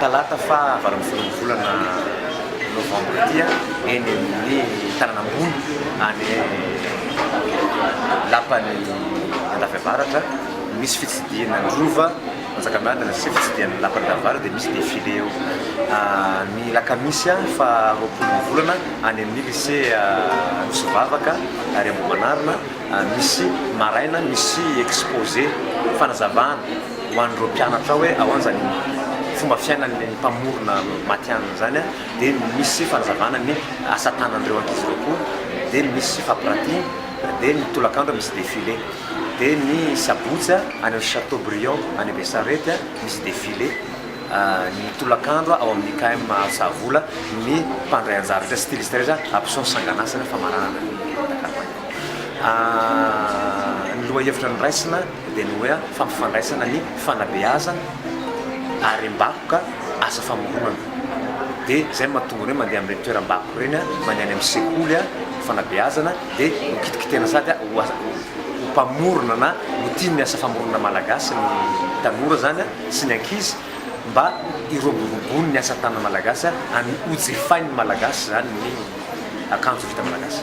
Talata faha valo ambin'ny folo ny volana novambra ity eny amin'ny tanana ambony any lapan'i Andafiavaratra no misy fitsidihina ny rova Manjakamiadana sy fitsidihana ny lapan'i Andafiavaratra dia misy défilé eo ny lakamisy faha roapolo ny volana any amin'ny lycée Anosivavaka ary Ambohimanarina misy maraina misy exposé fanazavana ho an'ireo mpianatra hoe ahoana ny fomba fiainan'ny mpamorona matihanina izany dia misy fanazavana ny asa tanan'ireo ankizy ireo koa dia misy fampiratiana dia ny tolakandro misy défilé dia ny sabotsy any amin'ny Chateaubriand any Besarety misy défilé ny tolakandro ao amin'ny IKM Alsavola ny mpandray anjara rehetra styliste rehetra hampiseho ny sanganasany famaranana ny takapany ny lohahevitra noraisina dia ny hoe fampifandraisana ny fanabeazana ary mbakoka asa famoronana dia izay no mahatonga ny hoe mandeha amin'ireny toeram-bakoka ireny, mandeha any amin'ny sekoly ny fanabeazana dia ho kitikitihana sady ho ho mpamorona na ho tia ny asa famoronana malagasy ny tanora izany sy ny ankizy mba hiroboroboany ny asa tanana malagasy ary hojifain'ny malagasy izany ny akanjo vita malagasy.